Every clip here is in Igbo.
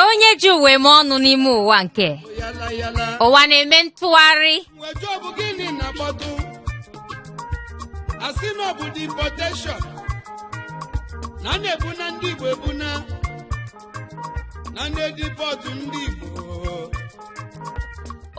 onye ji ụwa eme ọnụ n'ime ụwa nke ụwa na-eme ntụgharị asị na ọ bụ deportation na a na-ebuna ndị Igbo ebuna na a na-edipọtụ ndị Igbo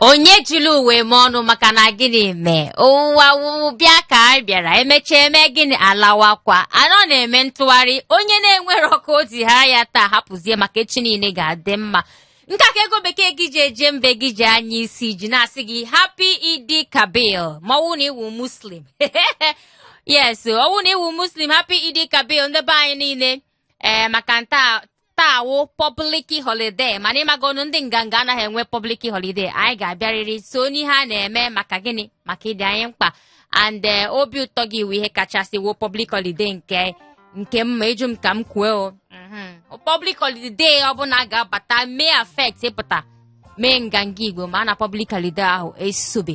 onye ejila ụwa eme ọnụ maka na gịnị mee ụwa wụ ọbịa ka anyị bịara emechaa eme gịnị alawakwa anọ na-eme ntụgharị onye na-enwere ọkụ o ji ha ya taa hapụzie maka echi niile ga-adị mma nke a ka ego bekee gị ji eje mba gị ji anya isi ji na-asị gị happy Eid Kabir ma ọ wụ na ị wụ Muslim yes ọ wụ na ị wụ Muslim happy Eid Kabir ndị be anyị niile ee maka na taa wụ public holiday mana ị magonụ ndị Nganga anaghị enwe public holiday anyị ga-abịarịrị so n'ihe a na-eme maka gịnị maka ị dị anyị mkpa and eh, obi ụtọ gị wụ ihe kachasị wụ public holiday nke nke mma ị jụ m ka m kwuo public holiday ọbụla ga-abata mee affect ịpụta mee Nganga Igbo ma na public holiday ahụ esobe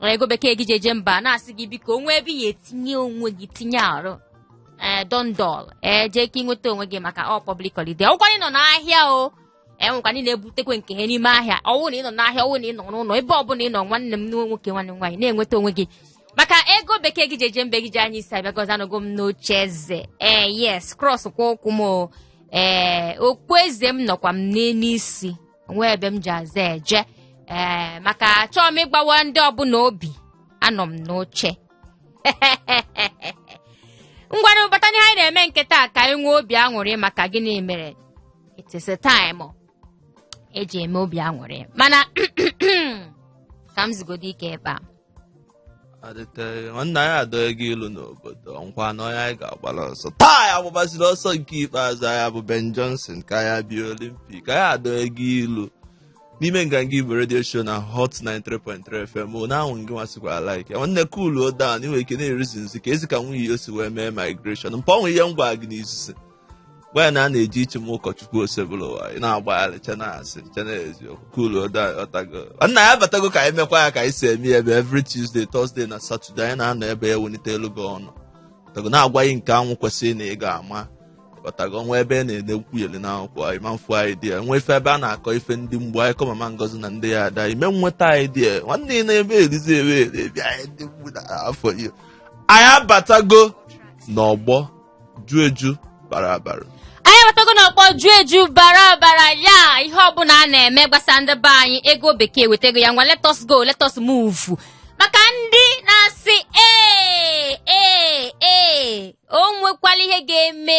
Ọ ego bekee gị ji eje mba na-asị gị biko o nwee ebe ị ya-etinye onwe gị tinye arụ ee dondol ee jee ka ị nweta onwe gị maka ọ public holiday ọ wụkwa ị nọ n'ahịa o enwekwa ndị na-ebutekwa nke ha n'ime ahịa ọwụ na ị nọ n'ahịa ọwụ na ị nọ n'ụlọ ebe ọbụla ị nọ nwanne m nwoke nwanne m nwaanyị na-enweta onwe gị maka ego bekee gị ji eje mba gị ji anya isi abịagozi anọgo m n'oche eze ee yes cross kwa ụkwụ m o ee okpueze m nọkwa m n'elu isi nwee ebe m ji azụ eje ee maka achọọ m ịgbawa ndị ọbụla obi anọ m n'oche ngwanụ bata n'ihe anyị na-eme nke taa ka anyị nwee obi aṅụrị maka gịnị mere it is a time eji eme obi aṅụrị mana ka m zigodo ike ebe a adịte nwanne anyị adọghị gị ilu n'obodo nkwa na onye anyị ga-agbara ọsọ taa ya gbabaziri ọsọ nke ikpeazụ ya bụ Ben Johnson ka ya bịa Olympic anyị adọghị gị ilu n'ime Nganga Igbo radio show na Hot 93.3 FM mụ na anwụ gị nwasịkwa like ya nwanne cool down ị nwee ike na-erizi nsị ka ezi ka nwunye ya o si wee mee migration mpa o nwe ihe m gwara gị n'izuzi gwa ya na a na-eji ichi m ụkọchukwu Osebuluwa ị na-agbagharịcha na-asịcha na eziokwu cool ọtago nna ya batago ka anyị mekwa ya ka anyị si eme ya ebe every Tuesday Thursday na Saturday anyị na-anọ ebe ya welite elu gị ọnụ ọtago na-agwa gị nke ahụ kwesịrị na ị ga-ama ọtago nwa ebe a na-ede nkwuyeli na akwụkwọ anyị ma mfu idea nwa ife ebe a na-akọ ife ndị mgbu anyị kọ Mama Ngozi na ndị ya ada ime nweta idea nwanne ị na-ebe erizi ebe eri anyị ndị mgbu na afọ iyo anyị abatago n'ọgbọ ju eju bara abara anyị abatago n'ọgbọ ju eju bara abara ya ihe ọbụla a na-eme gbasa ndị be anyị ego bekee ewetago ya ngwa let us go let us move maka ndị na-asị ee ee ee o nwekwala ihe ga-eme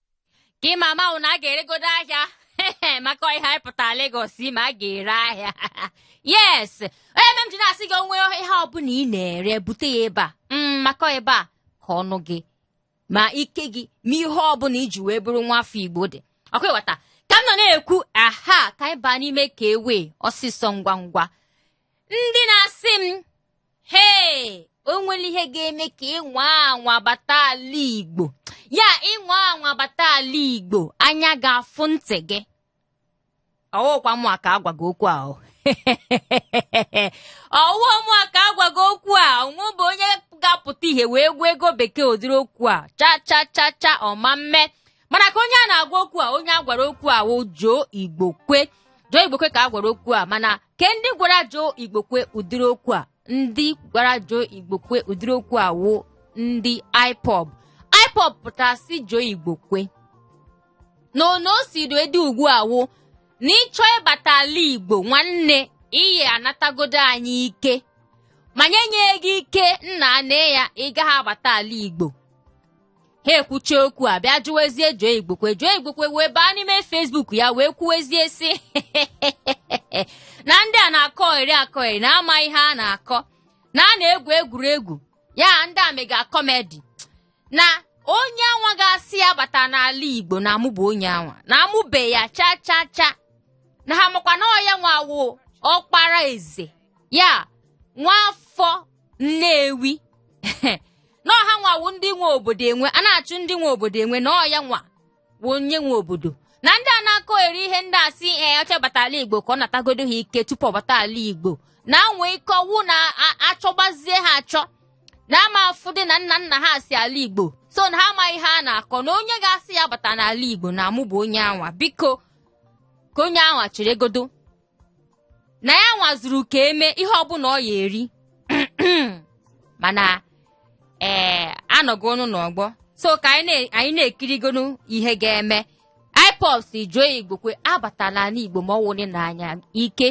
ka ị mama ahụ na a ga-eregodo ahịa maka ihe anyị pụtara Lagos ma a ga-ere ahịa yes ọ ihe mere m ji na-asị gị o nwee ihe ọbụla ị na-ere bute ya ebe a Mm, maka ebe a ka ọnụ gị ma ike gị ma ihe ọbụla i ji wee bụrụ nwa afọ Igbo dị ọkwa ịghọta ka m nọ na-ekwu aha ka anyị baa n'ime ka ewe ọsịsọ ngwa ngwa ndị na-asị m hee o nwere ihe ga-eme ka ị nwaa anwa bata ala igbo ya ị nwaa anwa bata ala igbo anya ga-afụ ntị gị ọwụkwa mụa ka a gwaga okwu a ọwụwa mụa ka a gwaga okwu a o nwebe onye ga-apụta ihe wee gwa ego bekee ụdịrị okwu a cha cha cha cha ọ ma mme mana ka onye a na-agwa okwu a onye a gwara okwu a wụ Joe Igbokwe Joe Igbokwe ka a gwara okwu a mana ke ndị gwara Joe Igbokwe ụdịrị okwu a ndị gwara Joe Igbokwe ụdịrị okwu a wụ ndị IPOB IPOB pụtara sị Joe Igbokwe na ono o si do edi ugbu a wụ na ịchọ ịbata ala Igbo nwanne ị ya-anatagodo anyị ike ma anyị enye gị ike nna anyị ị gaghị abata ala Igbo ha ekwuchaa okwu a bịa jụwezie Joe Igbokwe Joe Igbokwe wee baa n'ime Facebook ya wee kwuwezie sị na ndị a na-akọgheri akọgheri na ama ihe a na-akọ na a na-egwu egwuregwu ya ndị a mega kọmedi na onye anwa ga-asị ya abatana ala Igbo na amụbe onye anwa na amụbe ya cha cha cha na ha makwa na ọ ya nwa wụ ọkpara eze ya nwa afọ nnewi na ọ ha nwa wụ ndị nwe obodo enwe a na-achụ ndị nwe obodo enwe na ọ ya nwa wụ onye nwe obodo na ndị a na-akọgheri ihe ndị a sị ee ọ chọọ ịbata ala igbo ka ọ natagodo ha ike tupu ọ bata ala igbo na e nwe ike ọwụ na a- achọbazie ha achọ na a ma-afụdị na nna nna ha si ala igbo so na ha amaghị ihe a na-akọ na onye ga-asị ya abatana ala igbo na amụbe onye anwa biko ka onye anwa cheregodo na ya nwa zuru ka e mee ihe ọbụla ọ ya-eri mana ee anọgonu n'ọgbọ so ka anyị na- anyị na-ekirigonu ihe ga-eme ipob sị joe igbokwe abatala ala igbo ma ọ wụrụ n'anya ike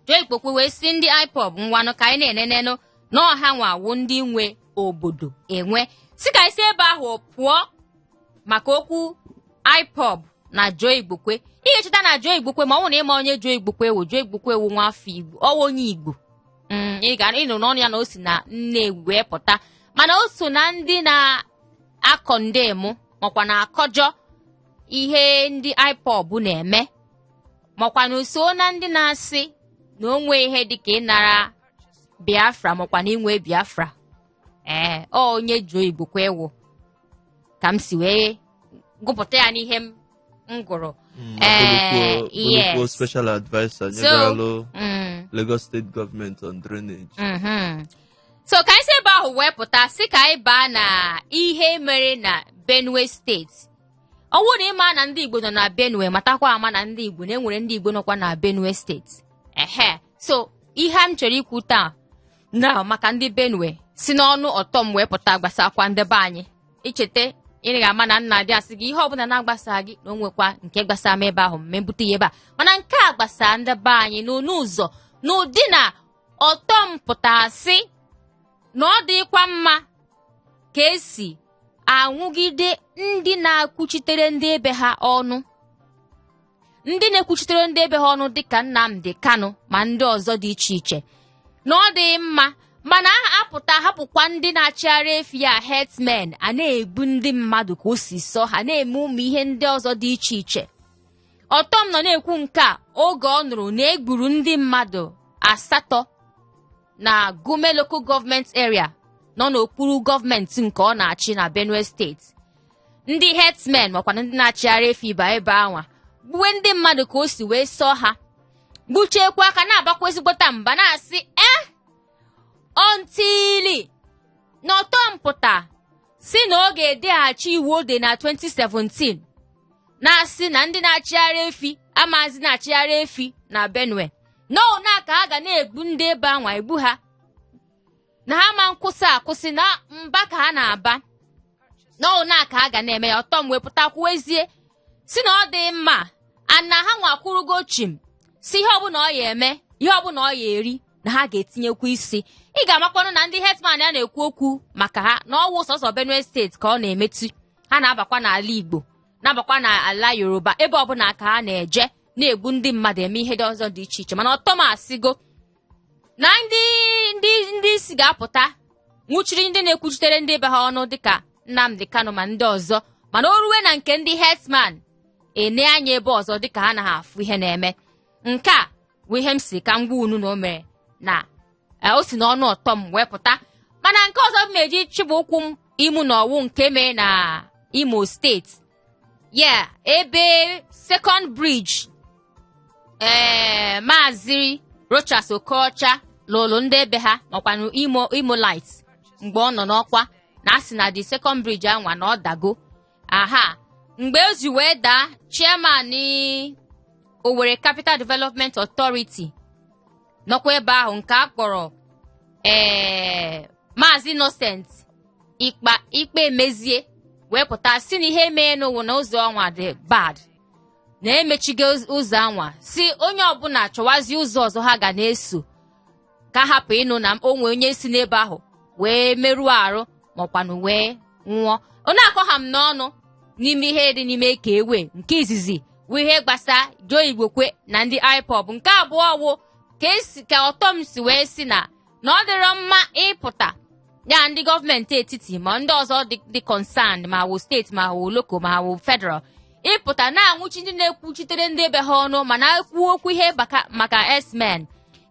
joe igbokwe wee sị ndị ipob ngwanụ ka anyị na-enenenụ na ọ ha nwa wụ ndị nwe obodo enwe sị ka anyị si ebe ahụ pụọ maka okwu IPOB na Joe Igbokwe ị ga-echeta na Joe Igbokwe ma ọ bụ na ịma onye Joe Igbokwe wụ Joe Igbokwe wụ nwa afọ igbo ọ wụ onye igbo mm, ị ga ịnụ n'ọnụ ya na o si na Nnewi wee pụta mana o so na ndị na-acondemn makwa na-akọjọ ihe ndị IPOB na-eme makwa na o so na ndị na-asị na o nwee ihe dịka ịnara biafra makwa na inwe biafra ee ọ onye Joe Igbokwe wụ ka m si wee gụpụta ya n'ihe m m gụrụ Mm, Eh, Abolokwo- Abolokwo yes. special adviser So- nyegaralụ Mm, Lagos State Government on drainage. mhm. so ka anyị si ebe ahụ wee pụta sị ka anyị baa na ihe mere na benue steeti ọ bụrụ na ịma na ndị igbo nọ na benue matakwa ama na ndị igbo na e nwere ndị igbo nọkwa na benue steeti ehe so ihe m chọrọ ikwu taa na maka ndị benue si n'ọnụ Ortom wee pụta gbasakwa ndị be anyị i cheta ị ga-ama na m na-adị asị gị ihe ọbụla na-agbasa gị na o nwekwa nke gbasara m ebe ahụ m ebute ya ebe a mana nke a gbasara ndị be anyị n'ọnụ ụzọ n'ụdị na Ortom pụtara sị na ọ dịkwa mma ka e si anwụgide ndị na-akwuchitere ndị ebe ha ọnụ ndị na-ekwuchitere ndị ebe ha ọnụ dịka Nnamdi Kanu ma ndị ọzọ dị iche iche na ọ dịghị mma mana aha apụta hapụkwa ndị na-achịgharị efi a herdsmen a na-egbu ndị mmadụ ka o si sọ ha na-eme ụmụ ihe ndị ọzọ dị iche iche Ortom nọ na-ekwu nke a oge ọ nụrụ na e gburu ndị mmadụ asatọ na Gume Local Government Area nọ n'okpuru gọọmenti nke ọ na-achị na Benue steeti ndị herdsmen makwana ndị na-achịgharị efi ba ebe anwa gbuwe ndị mmadụ ka o si wee sọ ha gbuchaakwa ha ka na-abakwa ezigbote mba na-asị eh until na Ortom pụta sị na ọ ga-edeghachi iwu o de na 2017 na-asị na ndị na-achịgharị efi amazị na-achịgharị efi na benue n'ọna ka ha ga na-egbu ndị ebe anwa egbu ha na ha ma akwụsị akwụsị na mba ka ha na-aba na ọna ka ha ga na-eme ya Ortom wee pụta kwuwezie sị na ọ dị mma na ha nwa akwụrụgo chịm sị ihe ọbụla ọ ya-eme ihe ọbụla ọ ya-eri na ha ga-etinyekwu isi ị ga-amakwanụ na ndị herdsmen a na-ekwu okwu maka ha na ọ wụ sọsọ benue steeti ka ọ na-emetụ ha na-abakwa n'ala igbo na-abakwa n'ala yoruba ebe ọbụla ka ha na-eje na-egbu ndị mmadụ eme ihe ndị ọzọ dị iche iche mana Ortom asịgo na ndị ndị ndị isi ga-apụta nwụchiri ndị na-ekwuchitere ndị be ha ọnụ dịka Nnamdi Kanu ma ndị ọzọ mana o ruwe na nke ndị herdsman ene anya ebe ọzọ dịka ha naghị afụ ihe na-eme nke a bụ ihe m sị ka m gwa unu na o mere na eh, o si n'ọnụ Ortom wee pụta mana nke ọzọ m na-eji chịbụ ụkwụ m imu na ọwụ nke mere na Imo steeti ya ebe second bridge ee maazị Rochas Okorocha lụrụ ndị ebe ha makwanụ Imo Imolite mgbe ọ nọ n'ọkwa na a sị na the second bridge anwa na ọ dago aha mgbe o ji wee daa chairman Owerri Capital Development Authority nọkwa ebe ahụ nke a kpọrọ ee Maazị Innocent Ikpa Ikpamezie wee pụta sị na ihe meenụ wụ na ụzọ anwa dị bad na e mechigo ụzọ anwa sị onye ọbụla chọwazi ụzọ ọzọ ha ga na-eso ka a hapụ ịnụ na o nwee onye si n'ebe ahụ wee merụọ arụ makwanụ wee nwụọ ọ na-akọ ha m n'ọnụ n'ime ihe dị n'ime ka ewe nke izizi bụ ihe gbasa Joe Igbokwe na ndị IPOB nke abụọ wụ ka Ortom si wee sị na na ọ dịrọ mma ịpụta ya ndị gọọmenti etiti ma ndị ọzọ dị concerned ma wụ steeti ma wụ local ma wụ federal ịpụta na-anwụchi ndị na-ekwuchitere ndị be ha ọnụ mana e kwuo okwu ihe maka herdsmen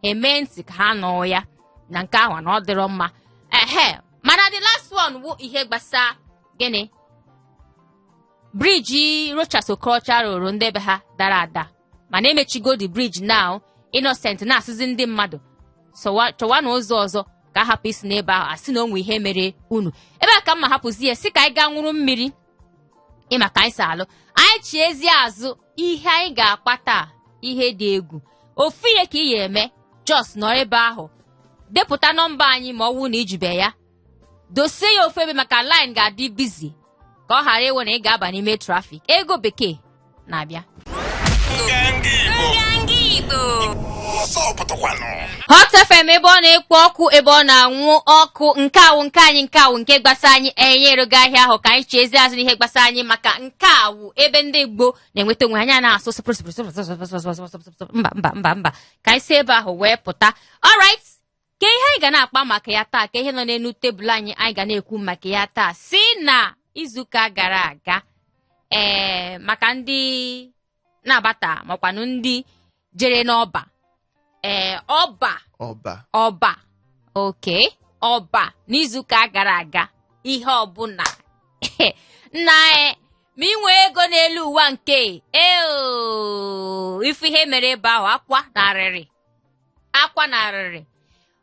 e mee ntị ka ha nụ ya na nke ahụ na ọ dịrọ mma ehe mana the last one wụ ihe gbasa gịnị bridge Rochas Okorocha rụrụ ndị be ha dara ada mana e mechigo the bridge now Innocent na-asịzi ndị mmadụ chọwa na ụzọ ọzọ ka a hapụ isi n'ebe ahụ a sị na o nwe ihe mere unu ebe a ka mma hapụzi ya sị ka anyị gaa nwụrụ mmiri ịma ka anyị si alụ anyị chiezie azụ ihe anyị ga-akpa taa ihe dị egwu ofu ihe ka ị ya-eme just nọ ebe ahụ depụta nọmba anyị ma ọ wụ na i jibe ya dosie ya ofu ebe maka line ga-adị busy ka ọ ghara ịwụ na ị ga-aba n'ime traffic ego bekee na-abịa Hot FM ebe ọ na-ekpo ọkụ ebe ọ na-anwụ ọkụ nke a wụ nke anyị nke a wụ nke gbasa anyị anyị erego ahịa ahụ ka anyị chiezie azụ n'ihe gbasa anyị maka nke a wụ ebe ndị Igbo na-enweta onwe anyị na-asụ mba mba mba mba ka anyị si ebe ahụ wee pụta alright ka ihe anyị ga na-akpa maka ya taa ka ihe nọ n'elu tebụl anyị anyị ga na-ekwu maka ya taa sị na izuụka gara aga ee maka ndị na-abata makwanụ ndị jere n'ọba ee ọba ọba ọba oke ọba n'izuụka gara aga ihe ọbụla nna e ma i nwee ego n'elu ụwa nke a o ị fụ ihe mere ebe ahụ akwa na arịrị akwa na arịrị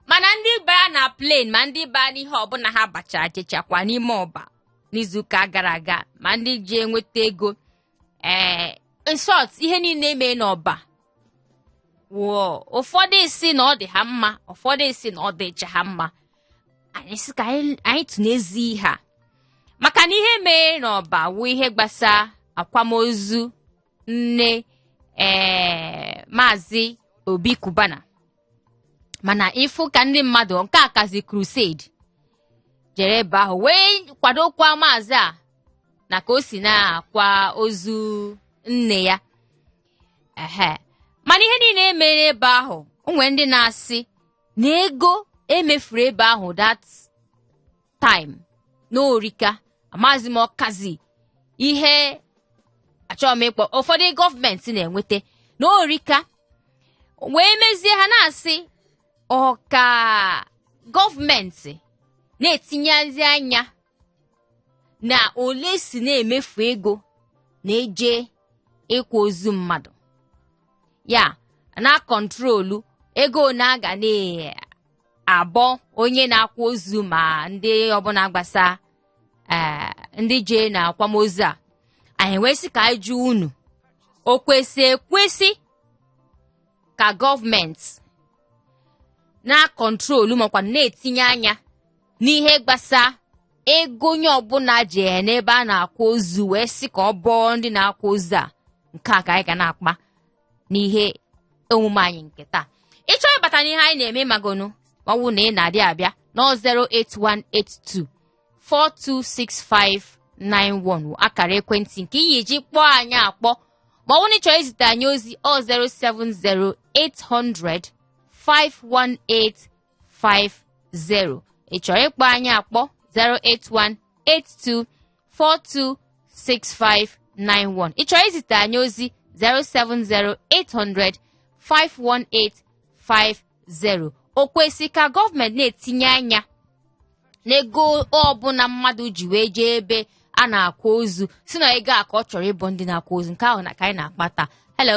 mana ndị bara na plane ma ndị baa n'ihe ọbụla ha bacha jechakwa n'ime ọba n'izuụka gara aga ma ndị ji enweta ego ee in short ihe niile e me n'ọba wụọ ụfọdụ sị na ọ dị ha mma ụfọdụ sị na ọ dịcha ha mma anyị sị ka anyị tụnezi ihe a maka na ihe mere n'ọba wụ ihe gbasa akwamozu nne ee maazị obi cubana mana ị fụ ka ndị mmadụ nke a kazi crusade jere ebe ahụ wee kwadokwa maazị a na ka o si na-akwa ozu nne ya ehe mana ihe niile e mere ebe ahụ o nwere ndị na-asị na ego e mefuru ebe ahụ that time na o rika amazi m ọ kazi ihe achọrọ m ịkpọ ụfọdụ gọọmenti na-enweta na o rika wee mezie ha na-asị ọ ka gọọmenti na-etinyezi anya na ole e si na-emefu ego na-eje ịkwa ozu mmadụ ya na-akọntrolu ego ole a ga na-abọ onye na-akwa ozu ma ndị ọbụla gbasa ee ndị jee na akwamozu a anyị wee sị ka anyị jụọ unu o kwesị ekwesị ka gọọmenti na-akọntrolu makwa na-etinye anya n'ihe gbasa ego onye ọbụla ji n'ebe a na-akwa ozu wee sị ka ọ bọọ ndị na-akwa ozu a nke a ka anyị ga na-akpa n'ihe omume anyị nke taa ị chọrọ ịbata n'ihe anyị na-eme magonu ọ wụ na ị na-adị abịa na 08182 426591 akara ekwentị nke i ya-eji kpọọ anyị akpọ ma ọ wụ na ị chọrọ izite anyị ozi ọ 070 800 51850 ị chọrọ ịkpọ anyị akpọ 081 82 426591 ị chọrọ izite anyị ozi 070-800-51850 o kwesị ka gọọmenti na-etinye anya n'ego ọbụla mmadụ ji wee jee ebe a na-akwa ozu sị na ego a ka ọ chọrọ ịbọ ndị na-akwa ozu nke ahụ na ka anyị na-akpa taa hello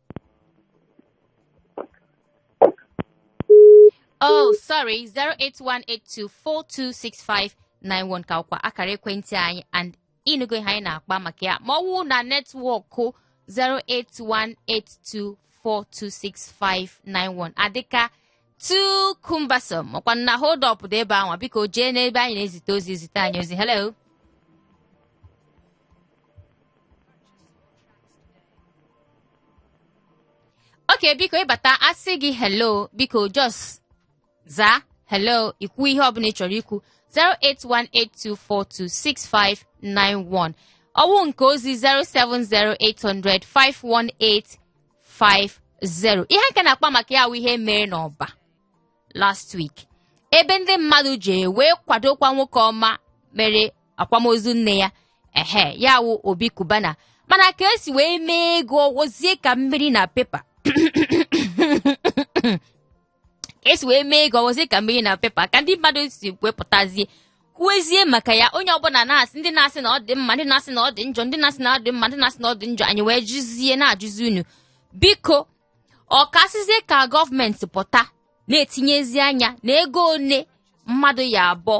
Oh, sorry, 08182426591 ka wụkwa akara ekwentị anyị and ị nụgo ihe anyị na-akpa maka ya ma ọ wụ na network 08182426591 adịka tu kumbasom makwa na hold up dị ebe anwa biko jee n'ebe anyị na-ezite ozi ezite anyị ozi hello okay biko ị bata a sị gị hello biko just zaa hello ikwu ihe ọbụla ị chọrọ ikwu 08182426591 ọ wụ nke ozi 070800518 50 ihe nke na-akpa maka ya wụ ihe mere n'Ọba last week ebe ndị mmadụ ji wee kwadokwa nwoke ọma mere akwamozu nne ya ehe ya wụ Obi Cubana mana ka esi wee mee ego ọ wụzie ka mmiri na pepa ka esi wee mee ego ọ wụzi ka mmiri na pepa ka ndị mmadụ si wee pụtazie kwuezie maka ya onye ọbụla na-asị ndị na-asị na ọ dị mma ndị na-asị na ọ dị njọ ndị na-asị na ọ dị mma ndị na-asị na ọ dị njọ anyị wee jụzie na-ajụzi unu biko ọ ka a sịzie ka gọọmenti pụta na-etinyezi anya na ego one mmadụ ya abụọ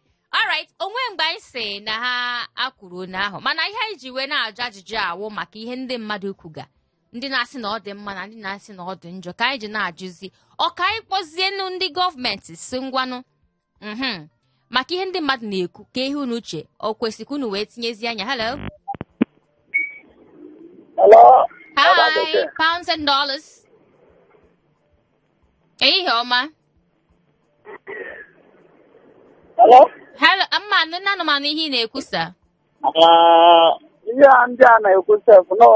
alright o nwe mgbe anyị sị na ha kwuru nke ahụ mana ihe anyị ji wee na-ajụ ajụjụ a wụ maka ihe ndị mmadụ kwuga ndị na-asị na ọ dị mma na ndị na-asị na ọ dị njọ ka anyị ji na-ajụzi ọ ka anyị kpọzienu ndị gọọmenti sị ngwanụ mhm maka ihe ndị mmadụ na-ekwu kee ihe unu che o kwesịrị ka unu wee tinyezie anya hello Hello? hi pounds and dollars ehihie ọma Hello? Hello, mma anụ nne anụ m anụ ihe ị na-ekwusa. Ah, ihe a ndị a na-ekwu sef nọ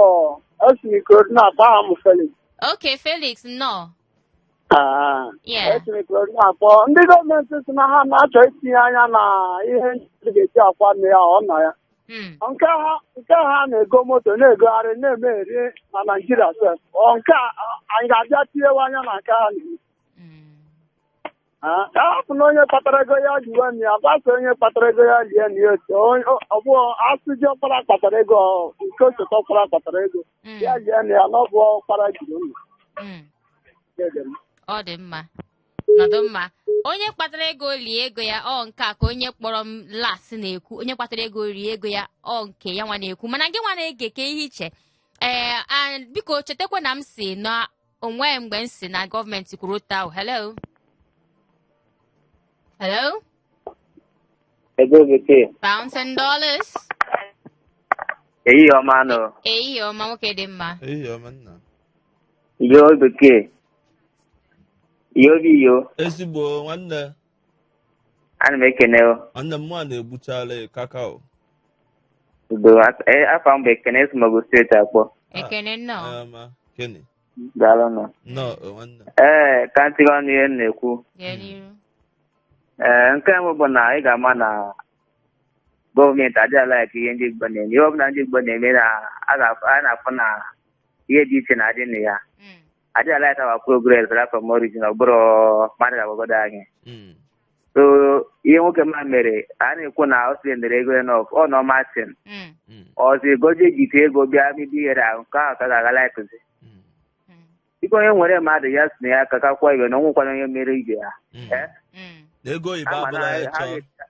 esi m Ikorodu na-akpọ aha m Felix. Ok, Felix, nnọọ. Ah, Yeah. esi m Ikorodu na-akpọ ndị gọọmenti sị na ha na-achọ itinye anya na ihe ndị ga-eji akwa nne ya ọ nọ ya Hmm. nke ha nke ha na-ego moto na-egogharị na-emeri na Naịjirịa sef Ọ nke a anyị ga-abịa tinyewe anya na nke ha na-eme. Mm. Ah, ka hapụnụ onye kpatara ego ya liwe nne ya gbasa onye kpatara ego ya lie nna ya otu Onye- ọ- ọ bụ a sị diọkpara kpatara ego ọ- nke osote ọkpara kpatara ego Mm. ya lie nna ya na ọ bụ ọkpara jiri ụlọ Mm. ọ dị mma nọdụ mma onye kpatara ego o lie ego ya ọ nke a ka onye kpọrọ m last na-ekwu onye kpatara ego o rie ego ya ọ nke ya nwa na-ekwu mana gị nwa na-ege kee ihe i che ee a- biko chetakwa na m sị na o nweghị mgbe m sị na gọọmenti kwuru otu ahụ hello hello Ego bekee. pounds and dollars Ehihie ọma nụ. ehihie ọma nwoke dị mma Ehihie ọma nna. Ego bekee. Yo bi yo. Ezigbo nwanne. ana m ekene o. nwanne m nwa na-egbuchala ya kakao udo Af- eh, afa m bụ ekene esi m Ogun steeti akpọ ekene nnọọ ma Kenny daalụ nụ nnọọ o, nwanne m. ee ka m tinye ọnụ n'ihe a na-ekwu jee n'iru ee nke mbụ bụ na ị ga-ama na gọọmenti adịghị alaịk ihe ndị igbo na-eme ihe ọbụla ndị igbo na-eme na a ga- a na-afụ na ihe dị iche na-adị na ya adịghị alaịk our progress right from origin ọ bụrụ mmadụ agwagodo anyị Mm. so ihe nwoke m a mere a na-ekwu na ọ spendere ego enough ọ nọ matin Mm. Mm. ọzọ egoje jite ego bịa bido ihere ahụ nke ahụ ka ha ga-alaịkịzi Mm. Mm. dịka onye nwere mmadụ ya si na ya ka kakwa ibe na o nwekwana onye mere ibe ya Mm. Eh? Mm. ego oyibo Ama na abụla ha- ha ịchọ ga-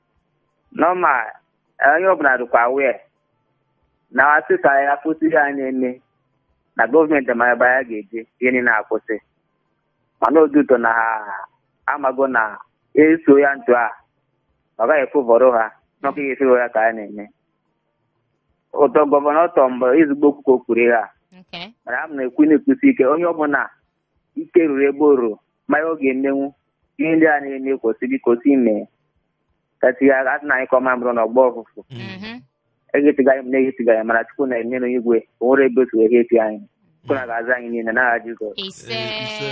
nọma onye ọbụla dịkwa wee na-asị ka ya kwụsị ihe a na-eme na gọọmenti ma ebe ya ga-eje ihe niile akwụsị mana due to na ha amago na e so ya otu a ọ gaghị efevọrọ ha n'ọkụ ihe efere ya ka a na-eme ụtọ gọvanọ tọ mgbe ezigbo okwu ka o kwuru ihe a Okay. mana a m na-ekwu na-ekwusi ike onye ọbụla ike ruru ebe o ruru ma ihe ọ ga-emenwu ihe ndị a na-eme kwụsị biko si mee ka tinye aka asị na anyị ka ọma bụrụ na ọgbọ ọfụfụ Mhm. ehetiga anyị na-ehetiga anyị mana chukwu nọ n'enu igwe o nwere ebe otu wee heti anyị chukwu nna ga-aza anyị niile n'aha jizọs ise Eh, ise.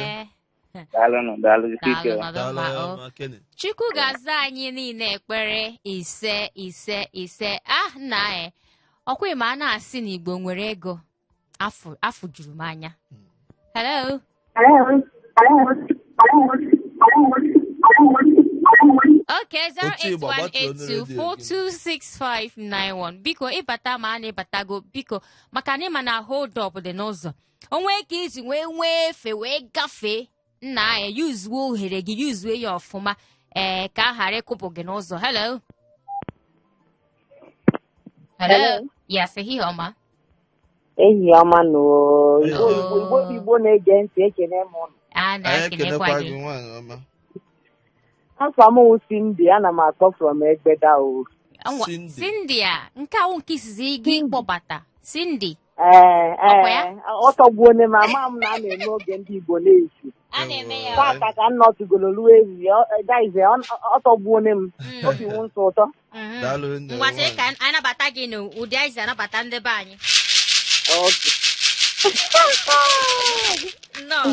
daalụ nụ daalụ jisie ike Daalụ, madam. Daalụ, Mama, oh. ma Kenny. chukwu ga-aza anyị niile ekpere ise ise ise ah nna anyị ọkwa ị ma a na-asị na igbo nwere ego afụ afụ juru m anya hello Okay, Otu ịgba, gbatuo ọnụ redio gị. 08182426591 biko ị bata mara na ị batago biko maka na ị ma na hold up dị n'ụzọ o nwe ka i ji wee nwee efe wee gafee nna anyị yuzuo ohere gị yuzuo ya ọfụma ee ka a ghara ịkụpụ gị n'ụzọ hello hello Hello. yes ehihie ọma ehihie ọma nụ oo. Igbo Hello. Igbo Igbo bụ Igbo na-ege ntị ekene m ụnụ a anyị na-ekenekwa ekenekwa gị gị nwaanyị ọma afa m wụ Cindy ana m akpọ from Egbeda o Anwa- Cindy. Cindy a nke a wụ nke izizi gị ịkpọbata Cindy Ee, Ọkwa ya? ee, ọ tọgbuone m ama m na a na-eme oge ndị Igbo n'ehihie. a na-eme ya Ewo. Taata ka m nọtụgoro ruo ehihie, ọ- eh, guys, eh, ọ- ọ tọgbuone m. Obi wụ m sọ ụtọ. Mhm. Daalụ nne, ngwa sị nwaanyị. ka anyị nabata gị n'ụdị anyị si anabata ndị be anyị Okay. nnọọ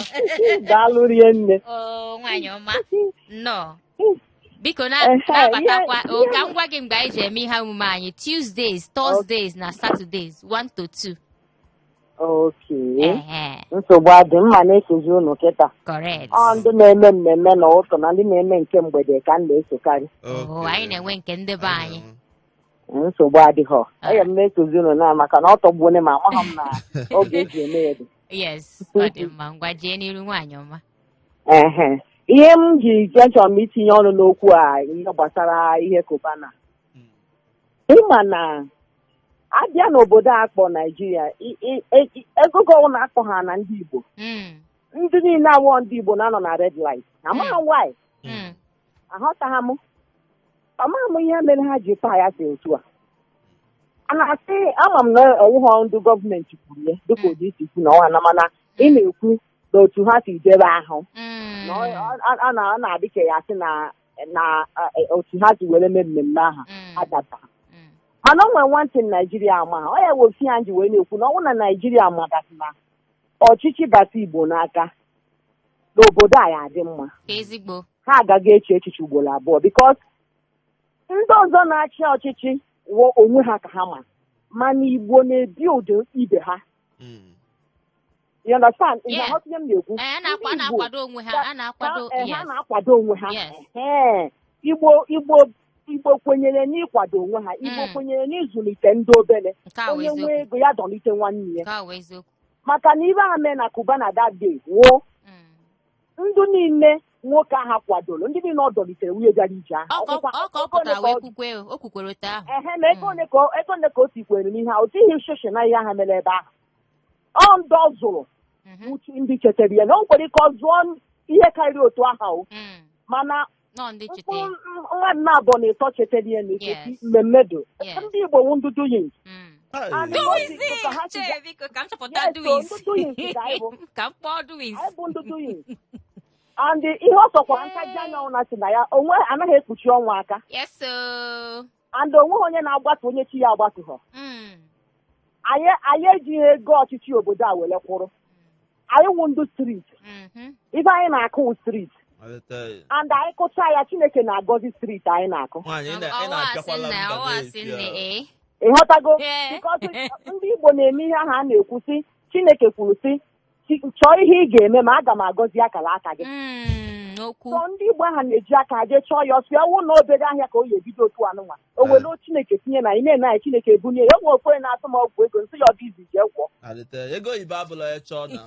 Daalụ rinne. o nwaanyị ọma nnọọ biko na- Ehe, na-abatakwa ihe- o, ka m gwa gị mgbe anyị ji eme ihe omume anyị tuesdays thursdays na saturdays 1 to 2 okay Ehe, nsogbu adị mma na-esozi unu kịta correct ọ ndị na-eme mmemme n'ụtụtụ na ndị na-eme nke mgbede ka m na-esokarị Oo, anyị na-enwe nke ndị be anyị nsogbu adịghọ aya m na-esozi unu na maka na ọ tọgbuone m amaghị m na oge eji eme ya dị yes ọ dị mma ngwa jee n'iru nwaanyị ọma ehe ihe m ji ji achọrọ m itinye ọnụ n'okwu a ihe gbasara ihe cubana ị ma na a bịa n'obodo a kpọ naijiria i- i- e- ego gọwụ na-akpọ ha na ndị igbo Mm, ndị niile awụghọ ndị igbo na-anọ na red light amaghị m why mm, aghọtaghị m amaghị m ihe mere ha ji paa ya si otu a a na-asị ama m na ọwụghọ ndị gọọmenti kwuru ya dịka ụdị i si kwu na ọnwa na mana ị na-ekwu na otu ha si dee ebe ahụ Mm. na ọ- ọ- ọ- ọ na- ọ na-adị ka ya sị na na eh, otu ha si were mee mmemme ahụ Mm. adata Mm. mana o nwere one thing naijiria amagha ọ ya wụ ife m ji wee na-ekwu na ọ bụrụ na naijiria mata sị na ọchịchị bata igbo n'aka na obodo a ya-adị mma ezigbo ha agaghị eche echiche ugboro abụọ because ndị ọzọ na-achị ọchịchị wụ onwe ha ka ha ma mana igbo na-ebuild ibe ha Mm. You understand? Ị Yeah. na-aghọta ihe m na-ekwu? Eh, a na-akwa- a Ndị Igbo, na-akwado onwe ha, a na-akwado- ha- eh, ha yes. na-akwado onwe ha. Yes. Ehe. Igbo Igbo Igbo kwenyere n'ịkwado onwe ha. Igbo Mm. kwenyere n'ịzụlite ndị obere. Nke a wụ Onye nwee eziokwu. ego ya dọlite nwanne ya. Nke a wụ eziokwu. Maka na ife ha mee na Cubana that day wụ Mm. ndị niile nwoke aha kwadoro ndị niile ọ dọlitere wụ ndị bịara ije ahụ. Ọ ka ọ- Ọkwa- ọ ka ọ ego ole pụtara ka wee ọ- kwukwe o kwukwere otu ahụ. Ehe, ma ego ole ka ọ- ego ole ka o tikwere n'ihe ahụ? O tighị shishi na ihe ahụ mere ebe ahụ. ọ ndị ọ zụrụ Mhm. uche ndị chetara ya na o nwekwara ike ọ zụọ n- ihe karịrị otu aha o Mm. mana nọ ndị cheta mkpụrụ m- mmadụ naabọ na ịtọ chetara ya na Yes. etiti mmemme do Yes. ndị igbo wụ ndị doings Mm. Hey. And doings! Doings ka ha si Chee, biko ka m chọpụta Yes, so doings. ndị doings ka anyị bụ. ka m kpọọ doings. anyị bụ ndị doings and ihe ọ sọkwara ntaji anya ọ na-asị na ya onwe anaghị ekpuchi ọnwa aka Yes, so. and onweghị onye na-agbatu onye chi ya agbatughọ Mm. anyị anyị ejighị ego ọchịchị obodo a were kwụrụ anyị wụ ndị street Mhm. ife anyị na-akụ wụ street Malite, and anyị kụcha ya chineke na-agọzi street anyị na-akụ nwaanyị ị na- ị Ọwa asị na-apịakwala nna, mba ọwa asị n'ezie. nna, ee. ịghọtago Ee. because ndị igbo na-eme ihe ahụ a na-ekwu sị chineke kwuru sị si- chọọ ihe ị ga-eme ma aga m agọzi akara aka gị Mm, okwu so ndị igbo ahụ na-eji aka ha jee chọọ ya ọ sọ ya wụ na obere ahịa ka o ya ebido otu anụnwa o were o chineke tinye n'ime na chineke ebunie ya o nwe nwoke na-ajụ m ọgwụ ego m sị ya ọ dụ easy jee gwọọ alite ego oyibo abụla ya chọọ na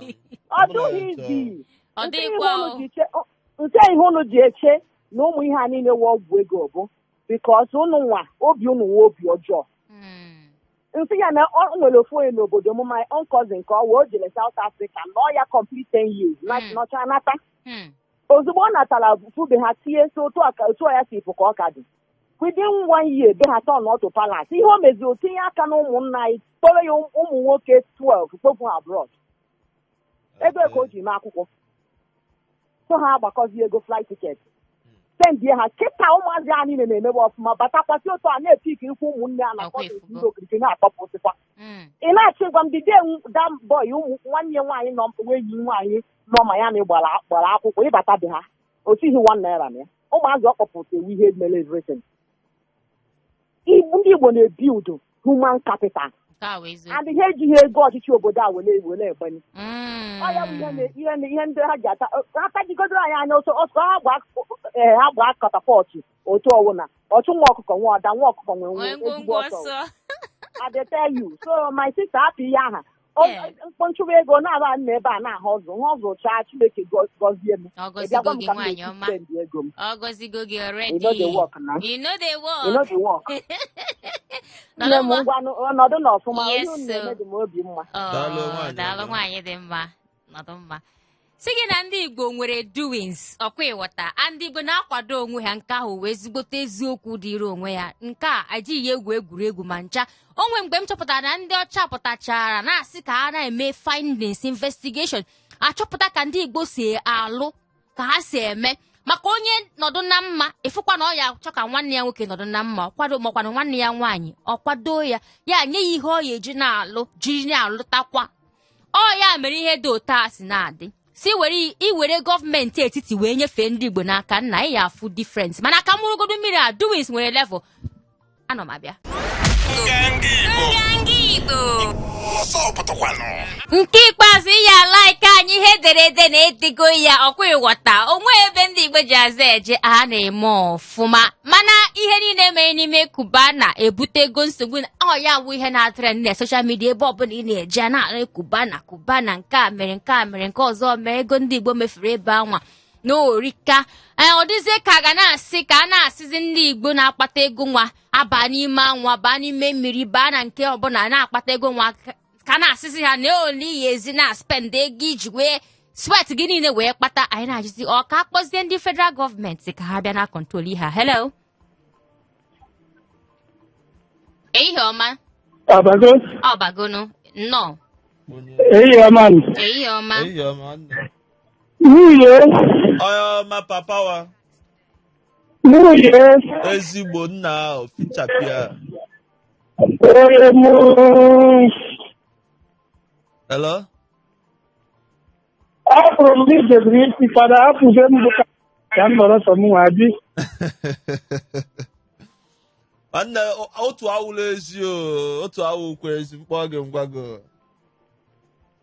ọ dụghị easy Ọ Nke ihe dịghịkwa unu o. ji che- ọ- nke ihe unu ji eche na ụmụ ihe a niile wụ ọgwụ ego bụ because unu nwe obi unu nwe obi ọjọọ Mm. m sị ya na ọ nwere ofu onye n'obodo m my own cousin ka ọ wụ o jere South Africa nọọ ya complete 10 years na Mm. nọcha nata Hmm. ozugbo ọ natara fụ be ha tie sị otu a ka- otu a ya si pụ ka ọ ka dị within one year be ha turnụọ to palace ihe o mezi o tinye aka na ụmụnna anyị kpọrọ ya ụm- ụmụ nwoke 12 kpọfụ ha abroad ebe ka o ji mee akwụkwọ so ha agbakọzi ego flight ticket sendie ha kịta ụmụazị a niile na-emebe ọfụma batakwasị otu a na-epick ikwu ụmụnne a na Akwa kọtụ efugo. ndị okirikiri na-akpọpụsịkwa Mm. ị na-achọ ịgwa m dị de dam bọị ụmụ nwanne ya nwaanyị nọ nwa enyi nwaanyị nọ ma ya na gbara gbara akwụkwọ ị bata be ha o tighị one naira na ya ụmụazị ọ kpọpụta wụ ihe mere everything Igbo ndị Igbo na-ebuild human capital Nke a wụ eziokwu. and ha ejighị ego ọchịchị obodo a were were egbanye Mm. ọ ya bụ ihe na- ihe na- ihe ndị ha ji ata ha tajigodoro anyị anya ọ sọ ọ sọ ha gba ee, ha gba catapult otu ọwụna ọchụ nwa ọkụkọ nwe ọda nwa ọkụkọ nwe Nwee nwe ezigbo ngwongwo ọsọ ọsọ. I dey tell you so my sister hapụ ihe aha m pụọ m chụwa ego na-aba na ebe a na-ahustle m hustlechaa chineke gọzie m ọ gọzigo gị nwaanyị ọma ego m ọ gọzigo gị already e no dey work nne m ngwanụ nọdụ na ọfụma ihe unu na-eme dị m obi mma daalụ nwaanyị dị mma nọdụ mma si gị na ndị igbo nwere doings ọ kwa ị ghọta ndị igbo na-akwado onwe ha nke ahụ wụ ezigbote eziokwu dịrị onwe ya nke a ajighị egwu egwuregwu ma ncha o nwe mgbe m chọpụtara na ndị ọcha pụtachara na-asị ka ha na-eme findings investigation achọpụta ka ndị igbo si alụ ka ha si eme maka onye nọdụ na mma ị fụkwa na ọ ya achọ ka nwanne ya nwoke nọdụ na mma ọ kwado makwana nwanne ya nwaanyị ọ kwado ya ya nye ya ihe ọ ya eji na-alụ jiri na-alụtakwa ọ ya mere ihe dị otu a si na-adị si were iwere gọọmenti etiti wee nyefee ndị Igbo n'aka nna ị ya afụ difference mana ka m ṅụrụgodo mmiri a doings nwere level ana m abịa nke ikpeazụ ị ya alike anyị ihe ederede na-edego ya ọ kwa ị ghọta o nwe ebe ndị Igbo ji aza eje a na-eme ọfụ ọfụma mana ihe niile mere n'ime Cubana ebutego nsogbu na ọ ya bụ ihe na-etrend na social media ebe ọbụla ị na-eje a na-anụ Cubana Cubana nke a mere nke a mere nke ọzọ mee ego ndị igbo mefuru ebe anwa na o rika ee ọ dịzie ka a ga na-asị ka a na-asịzi ndị igbo na-akpata ego nwa abaa n'ime anwa baa n'ime mmiri baa na nke ọbụla na-akpata ego nwa ka a na-asịzi ha na ole iyi ezi na spend ego iji wee swet gị niile wee kpata anyị na-ajụzi ọ ka a kpọzie ndị federal gọọmenti ka ha bịa na-akọntrol ihe a hello ehihie ọma Ọ bago, ọbagonu nnọọ ehihie ọma m. ehihie ọma Ehihie ọma nne. Nwunye, Onye ọma papa wa nwunye, ezigbo nna ahụ fichapịa. Hello? Ọ bụrụ m gị jebiri isi fada apụgo m bụ ka- ka m nọrọ sọ m nwa bi Nwanne o- otu awụla ezi o otu awụkwa ezi m kpọọ gị m gwa gị o.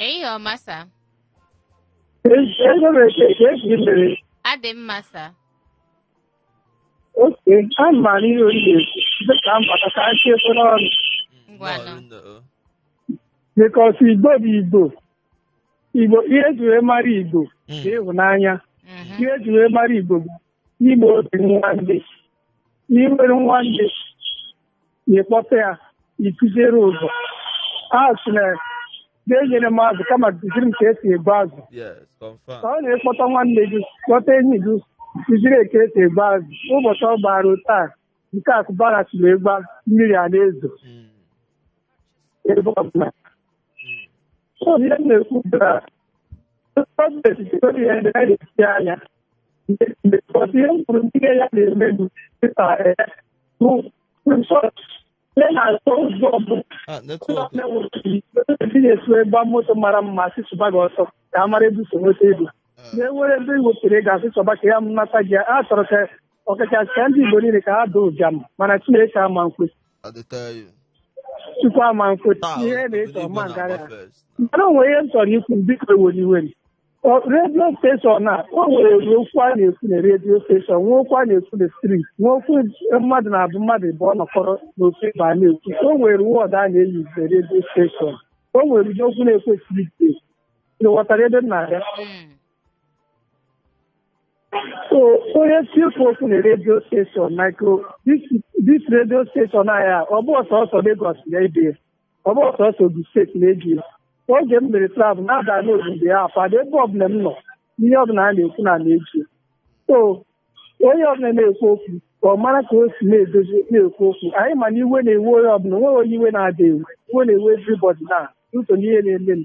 Ehihie ọma sa. Adị m mma sa. Oke, a ma n'ihe oriri dịka mbata ka a chie efere ọnụ. Ngwanụ. Bikọs Igbo bụ Igbo. Igbo ihe eji wee mara Igbo bụ ịhụnanya. Mhm. Ihe eji wee mara Igbo bụ ime obi nwanne. na i nwere nwanne ị kpọta ya ị kụziere ụzọ a sị na gị enyela m azụ kama kụziri m ka esi egbu azụ Yes, ka confirm. ọ na ị kpọta nwanne gị kpọta enyi gị kụziri ya ka esi egbu azụ ụbọchị ọ gbara otu a nke akụbara siri egba mmiri a na-ezo Mm. ebe ọbụla so ihe m na-ekwu bụ na gọọmenti jikọrọ ihe ndị anyị na-esi anya because ihe m kwuru ndị ya na-eme bụ dịka bụ resọt ya na-atọ ụzọ bụ Ah, netwọk ndị na-esu ịgba moto mara mma a sị chụba gị ọsọ ka a mara ebe i si nweta ego na-enwere ebe i wepụrụ ego a sị chọba ka a nata gị a chọrọ ka ọkachasị ka ndị Igbo niile ka ha daa ụbịam mana Chineke ama nkwe I dey tell you. Chukwu ama nkwe Taa, ihe obodo na-eso Igbo ọ ma ngara na-agba first. mana o nwere ihe m chọrọ ikwu biko ewela iwe na redio steshọn a o nwere okwu a na-ekwu na redio steshọn nwee okwu a na-ekwu na strit nwee okwu mmadụ naabọ mmadụ abụọ nọkọrọ n'ofu ebe a na-ekwu o nwere wọdụ a na-eyuz na redio steshọn o nwere ụdị okwu a na-ekwu na strit ị ghọtara ebe m na-abịa Mm. So onye chọọ ikwu okwu na redio steshọn maka dis redio steshọn anyị a ọ bụrọ sọsọ Lagos na-ege ọ bụrọ sọsọ Ogun steeti na-ege oge m mere travel na-aga n'obodo ya afado ebe ọbụla m nọ ihe ọbụla a na-ekwu na m na-ege so onye ọbụla na-ekwu okwu ka ọ mara ka o si na-edozi na-ekwu okwu anyị ma na iwe na-ewe onye ọbụla onweghị onye iwe na-ada ewe iwe na-ewe everybody na ụzọ n'ihe na-emenụ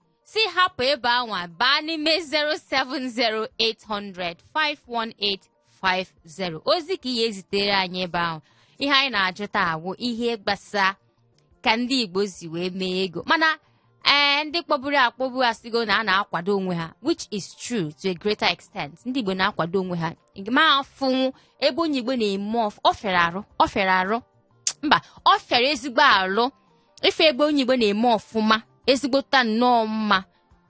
si hapụ ebe anwa baa n'ime 07080051850 ozi ka ị ya-ezitere anyị ebe ahụ ihe anyị na-ajụ taa awụ ihe gbasa ka ndị Igbo si wee mee ego mana ee ndị kpọburu akpọbu asịgo na a na-akwado onwe ha which is true to a greater extent ndị Igbo na-akwado onwe ha ma afụ ebe onye Igbo na-eme ọ fịara arụ mba ọ fịara ezigbo arụ ịfụ ebe onye igbo na-eme ọfụma ezigbota nnọọ mma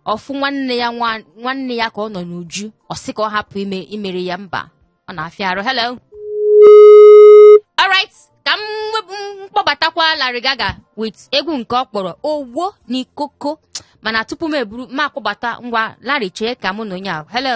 ọ fụ nwanne ya ka ọ nọ n'uju ọ sị ka ọ hapụ imere ya mba ọ na-afịa arụ hello alright ka m kpọbatakwa Larry Gaaga with egwu nke ọ kpọrọ Owo Ni Koko mana tupu m eburu m akpọbata ngwa Larry chee ka mụ na onye ahụ hello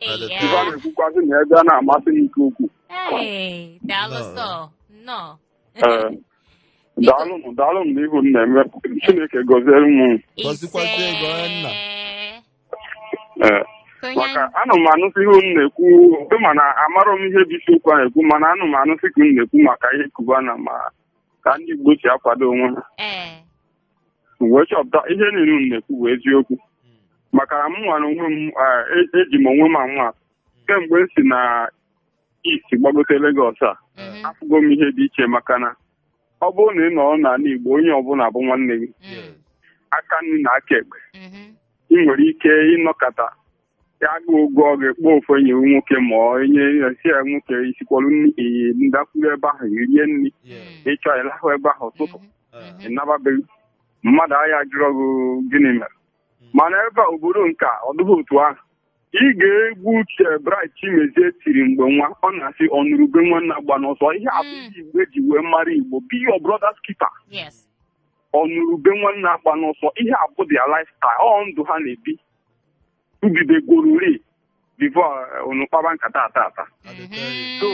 Ee, Ife a na-ekwukwazị na ebe a na-amasị m nke ukwuu. Ee, daalụ Nnọọ. sọ. Nnọọ. Ee. Daalụnụ, daalụnụ n'ihe unu na-eme. Chineke gọziere m. Gọzikwazie gị, onye nna. Ee. Maka anụ m anụsị ihe unu na-ekwu mana amarọ m ihe bụ isiokwu a na-ekwu mana anụ m anụsị ka unu na-ekwu maka ihe Cubana ma ka ndị Igbo si akwado onwe ha Ee. wee chọpụta ihe niile unu na-ekwu bụ eziokwu maka na mụnwa n'onwe m ah, e- eji m onwe m anwa kemgbe m si na East gbagote Lagos a Mhm. afụgo m ihe dị iche maka na ọ bụrụ na ị nọrọ n'ala Igbo onye ọbụla bụ nwanne gị Mm. aka nri na aka ekpe Mhm. ị nwere ike ịnọkata agụụ gụọ gị ị kpọọ ofu enyi nwoke ma ọ enyi ya sị ya nwoke i sikwara nri ee, ị dakwuru ebe ahụ i rie nri Yeah. ị chọọ ị lahụ ebe ahụ ụtụtụ Uh, ị naba be gị mmadụ ajụrọ gị gịnị mere mana ebe a obodo nke a ọ dịghị otu ahụ dị ka egwu ochie Bright Chimezie tiri mgbe nwa ọ na-asị ọnụrụ ube nwanne agbana ọsọ ihe a bụ ihe igbo eji wee mara igbo be your brother's keeper Yes. ọnụrụ ube nwanne agbana ọsọ ihe a bụ their lifestyle ọ ndụ ha na-ebi ebidegorori before unu kpaba nkata a taa taa so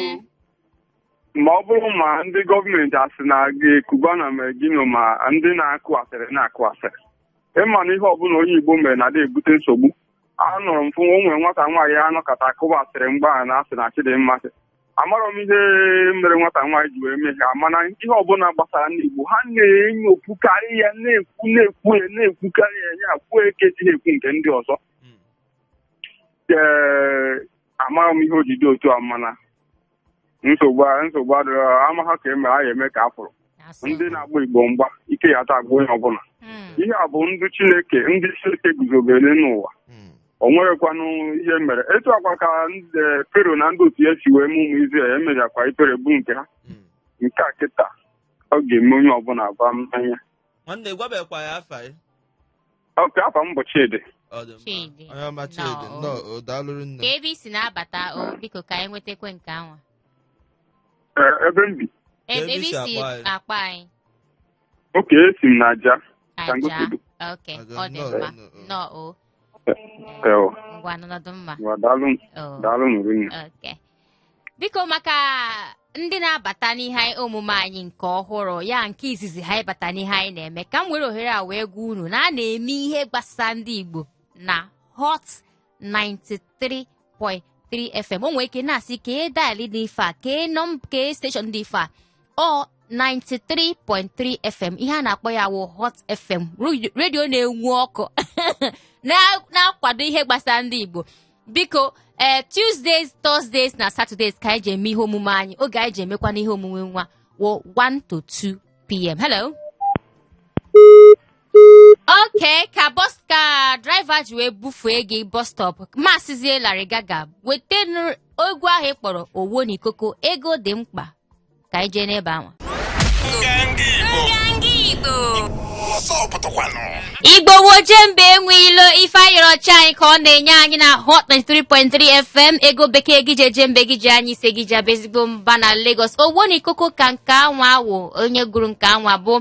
ma ọ bụrụ ma ndị gọọmenti asị na ọga Cubana mee gịnị o ma ndị na-akụ asịrị na-akụ asịrị ị ma na ihe ọbụla onye igbo mere na-adị ebute nsogbu anụrụ m fụ o nwere nwata nwaanyị a nọkata a kụba asịrị mgbe a na-asị na Chidimma sị amarọ m ihe mere nwata nwaanyị ji wee mee ihe a mana ihe ọbụla gbasara ndị Igbo ha na-enyopukarị ya na-ekwu na-ekwu ya na-ekwukarị ya ya kwuo eke ji ha ekwu nke ndị ọzọ ee amarọ m ihe o ji dị otu a mana nsogbu a- nsogbu adịrọ amaghị ka e mere a na-eme ka a fụrụ Asị. ndị na-agba igbo mgba ike ya ata agba onye ọbụla Mm. ihe a bụ ndụ chineke ndị chineke guzobere n'ụwa Mm. o nwerekwanụ ihe mere etu akwa ka Fero na ndị otu ya si wee mee ụmụ Izrel emechakwa ikpere bụ nke ha Mm. nke a kịta ọ ga-eme onye ọbụla gbam n'anya nwanne gwabekwa anyị afa gị okay afa m bụ Chidi ọ dị Chidi. mma onye ọma chidi Nnọọ. nnọọ o daalụ rinne ka ebe i si na-abata o biko ka anyị nwetakwe nke anwa Ee, ebe m bi Ebe Ebe i isi si akpọ anyị. akpọ anyị. okay esi m na Ajah Ajah. Sangotedo. Ok, Ajah, ọ dị nnọọ, mma. nnọọ. Nnọọ o. Ee, ọ, Ngwa nọdụ mma. ngwa, daalụ m- O. daalụ m rinne. Ok. Biko maka ndị na-abata n'ihe anyị- omume anyị nke ọhụrụ ya nke izizi ha ịbata n'ihe anyị na-eme ka m were ohere a wee gwa unu na a na-eme ihe gbasara ndị Igbo na Hot 93.3 FM o nwere ike na-asị kee dial dị ife a kee nọm kee station dị ife a ọ 93.3 FM ihe a na-akpọ ya wụ Hot FM ru- redio na-enwu ọkụ na- na-akwado ihe gbasara ndị Igbo biko ee Tuesdays Thursdays na Saturdays ka anyị ji eme ihe omume anyị oge anyị ji emekwanụ ihe omume nwa wụ 1 to 2 p.m. Hello okay ka bus ka driver ji wee bufee gị bus stop Maazị Larry Gaaga weta nụ- egwu ahụ ị kpọrọ owo ni koko ego dị mkpa ka anyị jee n'ebe anwa Igbo wụ ojemba enwe ilo ife a yọrọ chi anyị ka ọ na-enye anyị na hot 93.3 fm ego bekee e ji eje mba e ji anya isi e ji abụ ezigbo mba na Lagos owo ni koko ka nke anwa wụ onye gụrụ nke anwa bụ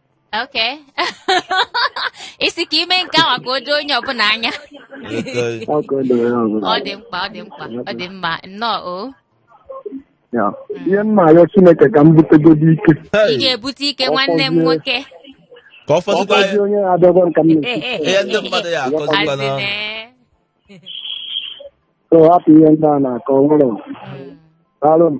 Okay. Ị sị ka i mee nke anwa ka o doo onye ọbụla anya. Okay. Ọ ka o doro ya ọzọ. Ọ dị mkpa, ọ dị mkpa, ọ dị mma. Nnọọ o. Ya. Ihe m na-arịọ Chineke ka m butegodi ike. Ị Hey, ga-ebute ike nwanne m nwoke. ka ọ Ọ fọzikwa fọzi onye na-abịa agwa m ka m na-esi. ihe ndị mmadụ ya-akọzikwa na Asịne. So hapụ ihe ndị a na-akọ nwere. Mm. Daalụ m.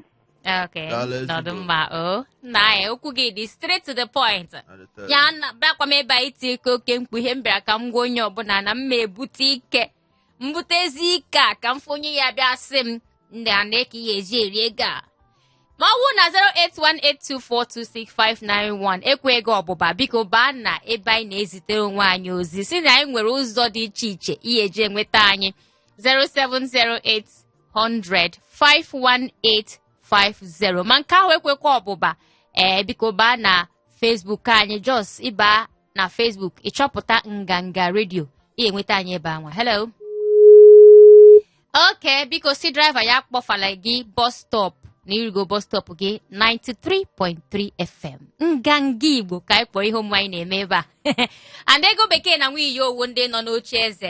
Okay. Daalụ ezigbo. Nọdụ mma o. Nna anyị okwu gị dị straight to the point. Adịtọ. Ya na bịakwa m ebe a iti ike oke mkpu ihe m bịara ka m gwa onye ọbụla na m ma-ebute ike. M butezie ike a ka m fụ onye ya-abịa sị m ndị a na-eke ihe eji eri ego a. Ma ọ bụrụ na 08182426591 ekweghị ọbụba biko baa na ebe anyị na-ezitere onwe anyị ozi si na anyị nwere ụzọ dị iche iche ị ya-eji enweta anyị 0708 800 51850 ma nke ahụ ekwekwa ọbụba ee eh, biko baa na Facebook anyị just ịba na Facebook ịchọpụta nganga redio i nweta anyị ebe anwa hello okay biko sị driver ya akpọfala gị bus stop na i rugo bus stop gị 93.3 FM nganga Igbo ka anyị kpọrọ ihe omume anyị na-eme ebe a and ego bekee na nwunye obodo ndị nọ n'oche eze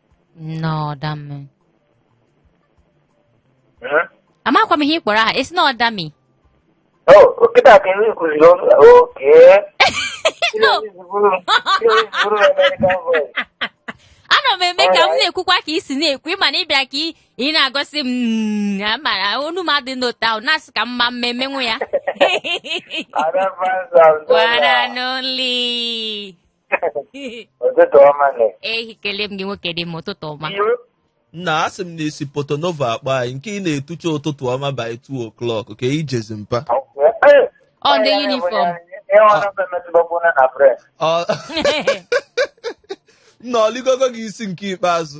N'ọdami. Eh? Amakwa m ihe ị kpọrọ aha, esi na ọdami. Oh, kịta ka ndị kụziri ọnụ okay. No. Ana m eme ka m na-ekwukwa ka i si na-ekwu ị ma na ị bịa ka ị- ị na-egosi m mm, amara onu m adị n'ụta ahụ na-asị ka mma mma emenwu ya. Ada Fransa. One and only. ụtụtụ ọma nne eh ekelee m gị nwoke dị mma ụtụtụ ọma nna asị m na i si Porto-Novo akpọ anyị nke ị na-etucha ụtụtụ ọma by 2 o'clock ka i jezi mpa ọ ndị uniform Ọ- na ọ ligogo gị isi nke ikpeazụ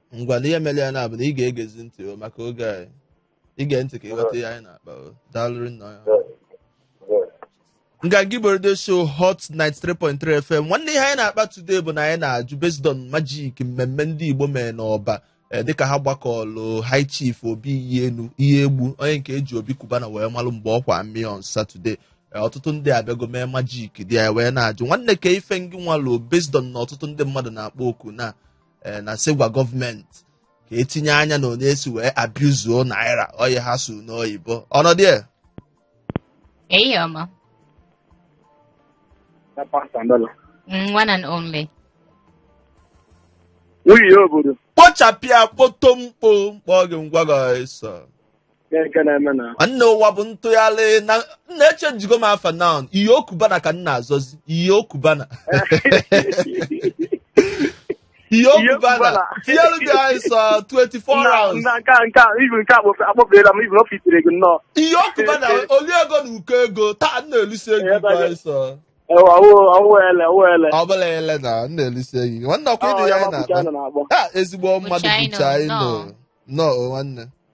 ngwa na ihe mere ya na-abụ na ị ga-egezi ntị o maka oge anyị ị gee ntị ka ị ghọta ihe anyị na-akpa o daalụrụ nna ya nganga igbo radio show hot 93.3 fm nwanne ihe anyị na-akpa today bụ na anyị na-ajụ based on magic mmemme ndị igbo mere n'Ọba eh, dịka ha gbakọlụ high chief obi iyi enu Iyiegbu onye nke e ji Obi Cubana wee malụ mgbe ọkwa mmiri on saturday Eh, ọtụtụ ndị abịago mee magic dị ya wee na-ajụ nwanne ka ife ngị nwalụ based on na ọtụtụ ndị mmadụ na-akpọ oku na ee na-asị gwa gọọmenti ka e tinye anya na onye esi wee abuse naira ọ ihe ha sụ n'oyibo ọnọdụ ya Hey, Oma. na pounds and dollar. Mm, one and only. Nwunye obodo kpochapịa kpoto mkpo mkpọ gị ngwa gị ọsọ Ihe nke na-eme na nwanne ụwa bụ ntụgharị na nna echenjigo m afa now nwunye Okubana ka m na-azazi nwunye Okubana nwunye Okubana Okubana. tinyere gị anyị sọ 24 hours na nke a nke a ibu nke a kpọfe- akpọferela m ibu na ọ fitere gị nnọọ nwunye Okubana oli ego na ụkọ ego taa na-elisi ego Ebe gị a- anyị sọ ewa owele owele ọ bụla ele na na-elisi ego gị nwanne ọkwa ị dị ya anyị na-akpa na-akpọ Ah, ezigbo mmadụ China, bụcha anyị nọ. nnọọ o nwanne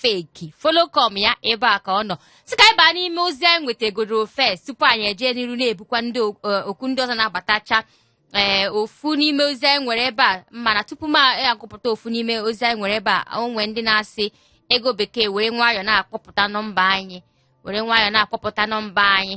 fake follow come ya ebe a ka ọ nọ sị ka anyị baa n'ime ozi anyị nwetagoro first tupu anyị ejee n'iru na-ebukwa ndị o- eh, okwu ndị ọzọ na-abatacha ee ofu n'ime ozi anyị nwere ebe a mana tupu m agụpụta ofu n'ime ozi anyị nwere ebe a o nwe ndị na-asị ego bekee were nwayọọ na-akpọpụta nọmba anyị were nwayọọ na-akpọpụta nọmba anyị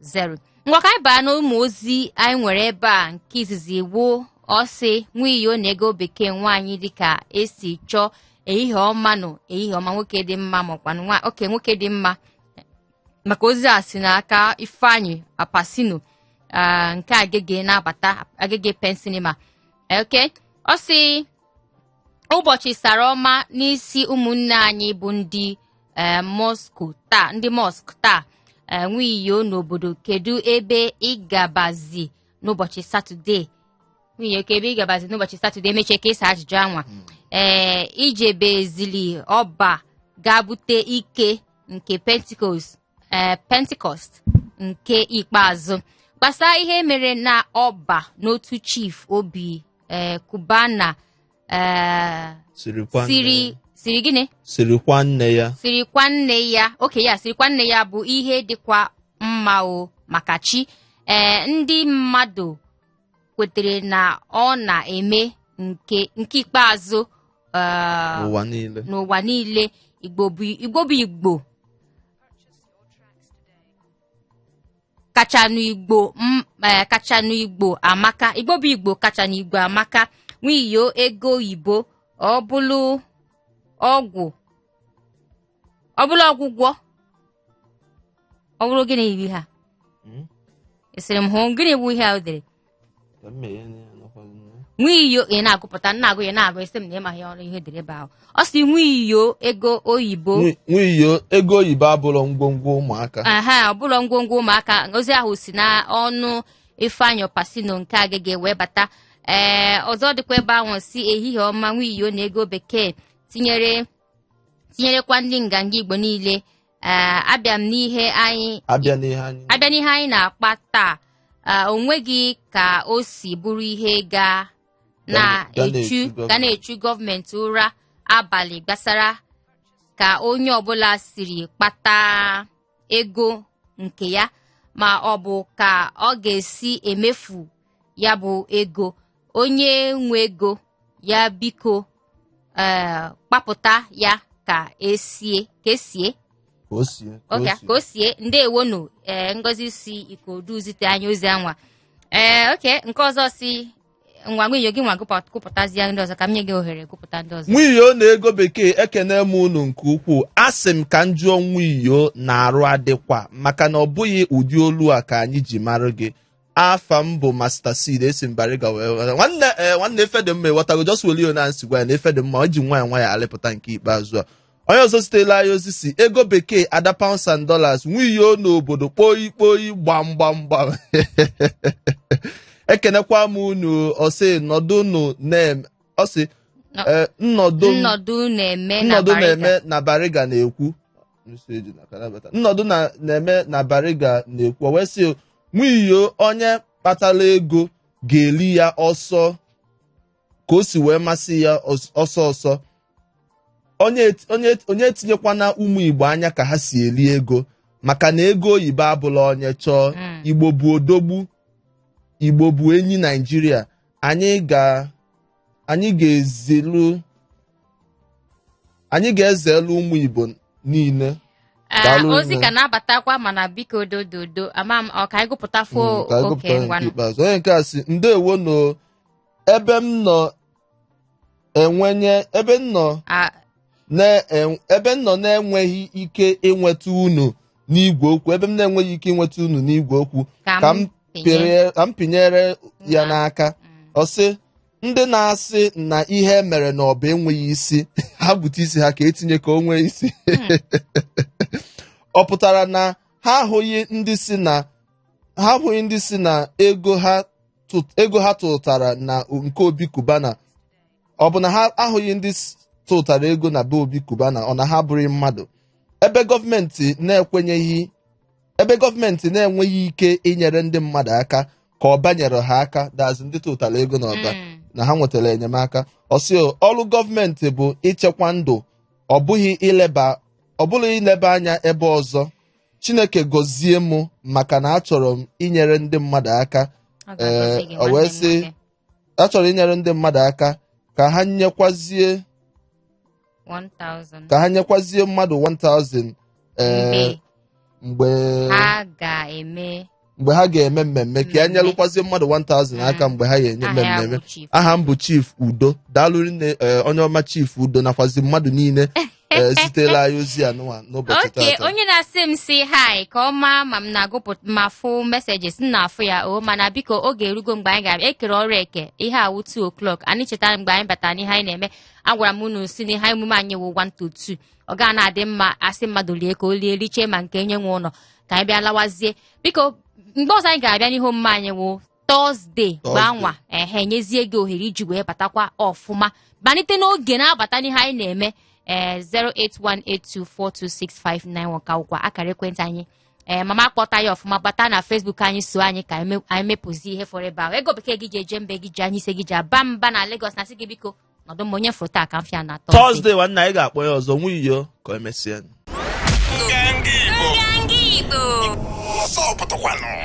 zero ngwa ka anyị baa n'ụmụ ozi anyị nwere ebe a nke izizi wụ ọ sị nwiyo na ego bekee nwaanyị dịka esi chọọ ehihie ọma nụ ehihie ọma nwoke dị mma makwa mma okay nwoke dị mma maka ozi a si n'aka ifeanyị apasino ah, nke agege na-abata agege pen cinema okay ọ sị ụbọchị sallah ọma n'isi ụmụnne anyị bụ ndị eh, mosque taa ndị mosque taa eh, nwiyo n'obodo kedu ebe ị gabazi n'ụbọchị satọde nwiyo kee ebe ị gabazi n'ụbọchị satọde emechie ka ị sa ajụjụ anwa hmm. ee eh, i jebezili ọba ga-abute ike nke pentecost ee pentecost nke ikpeazụ gbasara ihe mere na ọba n'otu chief obi ee cubana ee siri kwaa nne siri ya. siri gịnị siri kwaa nne ya siri kwaa nne ya okay ya siri kwaa nne ya bụ ihe dịkwa mma o maka chi ee ndị mmadụ kwetere na ọ na-eme nke nke ikpeazụ eh, n'ụwa niile n'ụwa niile igbo bụ igbo bụ igbo kachanụ igbo m- eh, kachanụ igbo amaka igbo bụ igbo kachanụ igbo amaka nwiyo ego oyibo ọ bụlụ ọgwụ ọ bụla ọgwụgwọ ọ bụrụ gịnị bụ ihe a Hmm? ị sịrị m hụ gịnị bụ ihe a o dere Ka m meghe anya ya, anọkwaghị m ya. nwa iyo ị na-agụpụta na-agụ ya na-agụ esi m na ị maghị ọrụ ihe dere ebe ahụ ọ sị nwa iyo ego oyibo Nwi- nwiyo ego oyibo abụrụ ngwongwo ụmụaka aha ọ bụrụ ngwongwo ụmụaka ozi ahụ si na ọnụ ifeanyị apasino nke agege wee bata ee ọzọ dịkwa ebe ahụ sị ehihie ọma nwa iyo na ego bekee tinyere tinyerekwa ndị nganga igbo niile ee abịa m n'ihe anyị abịa n'ihe anyị abịa n'ihe anyị na-akpa taa ee, o nweghị ka o si bụrụ ihe ga Ga na-echu na-echu gọọmenti. ga na-echu gọọmenti ụra abalị gbasara ka onye ọbụla siri kpata ego nke ya ma ọ bụ ka ọ ga-esi emefu ya bụ ego onye nwe ego ya biko ee kpapụta ya ka esie ka esie ka o sie ka o ọka sie. ka o sie ndewonu ee ngozi si ikorodu zite anyị ozi anwa ee okay nke ọzọ sị ngwa nwiyo gịnwa gụpụ- gụpụtazie ndị ọzọ ka m nye gị ohere gụpụta ndị ọzọ nwiyo na ego bekee ekene m unu nke ukwuu asị m ka m jụọ nwiyo na arụ adịkwa maka na ọ bụghị ụdị olu a ka anyị ji mara gị afa m bụ master seed esi m bariga wee ghọta. nwanne eh, nwanne ife dị mma ịghọtago just welio na m sị gwa ya na ife dị mma e ji nwayọ nwayọ alịpụta nke ikpeazụ a onye ọzọ zitela anyị ozi sị ego bekee ada pounds and dollars nwanyị n'obodo kpoyi kpoyi gbam gbam gbam ekenekwa m unu ọ sị nọdụnụ na-eme ọ sị Nọ- eh, nnọdụ m- nnọdụ na-eme na nnọdụ Bariga. na-eme na bariga na-ekwu Message na ka na-abata. nnọdụ na- na-eme na bariga na-ekwu o wee sị nwanyị onye kpatara ego ga-eli ya ọsọ ka o si wee masị ya ọsọ ọsọ onye etinyekwana ụmụ igbo anya ka ha si eli ego maka na ego oyibo abụla onye chọọ hmm. igbo bụ odogwu igbo bụ enyi naijiria anyị ga anyị ga-ezilu anyị ga-ezelu ụmụ igbo niile ah, ozi ka na-abatakwa mana biko dododo ama m ọ ka anyị gụpụtafuo hmm, okay ngwanụ onye nke a sị ndewo nụ ebe m nọ enwenye ebe m nọ A- na- en- ebe m nọ na-enweghị ike ịnweta unu n'igwe okwu ebe m na-enweghị ike ịnweta unu n'igwe okwu ka ka m m pinye pịrịe- ka m pinyere ya n'aka Mm. ọ sị ndị na-asị na ihe e mere na ọba enweghị isi ha bute isi ha ka e tinye ka o nwee isi ọ pụtara na ha ahụghị ndị sị na ha ahụghị ndị sị na ego ha ego ha tụtara na nke Obi Cubana ọ bụ na ha ahụghị ndị tụtara ego na be Obi Cubana ọ na ha abụrọ mmadụ ebe gọọmenti na-ekwenyeghị ebe gọọmenti na-enweghị ike inyere ndị mmadụ aka ka Ọba nyere ha aka that is ndị tụtara ego na ọba mm. na ha nwetara enyemaka ọ sị ọrụ gọọmenti bụ ichekwa ndụ ọ bụghị ileba ọ bụghị ileba anya ebe ọzọ chineke gọzie m maka na achọrọ m inyere ndị mmadụ aka Ọ ga-agọzi gị, Ee, o nwanne wee m sị nwoke. achọrọ inyere ndị mmadụ aka ka ha nyekwazie 1000 ka ha nyekwazie mmadụ 1000 ee mgbe mgbe ha ga-eme mgbe ha ga-eme mmemme ka ya nyelụkwazie mmadụ 1000 aka mgbe ha ga-enye Aha ya mmemme bụ Chief. aha m bụ chief udo daalụ nne eh, onye ọma chief udo nakwazi mmadụ niile eh, zitela anyị ozi a n'ụwa n'ụbọchị nke tata onye na-asị m si hi ka ọ maa ma m na-agụpụta ma fụ messages m na-afụ ya o mana biko oge erugo mgbe anyị ga-abịa ekere ọrụ eke ihe a wụ 2 o'clock anyị chetara mgbe anyị batara n'ihe anyị na-eme agwara m unu sị n'ihe emume anyị wụ 1 to 2 ọ ga na-adị mma a sị mmadụ lie ka o lie richee ma nke onye nwe ụlọ ka anyị bịa lawazie biko mgbe ọzọ anyị ga-abịa n'ihe omume anyị wụ Thursday gbanwa ehe nyezie gị ohere iji wee batakwa ọfụma malite n'oge na-abata n'ihe anyị na-eme ee 08182426591 ka wụkwa akara ekwentị anyị ee mama kpọta ya ọfụma bata na Facebook anyị so anyị ka anyị mepụzi ihe fọrọ ebe ahụ ego bekee gị ji eje mba gị ji anyị ise gị ji aba mba na Lagos na sị gị biko nọdụ mma onye fọrọ taa ka m fịa na tọzde tọzdee nwanne anyị ga-akpọ ya ọzọ nwa iyo ka e mesịa Nganga Igbo. Ọsọ pụtakwanụ.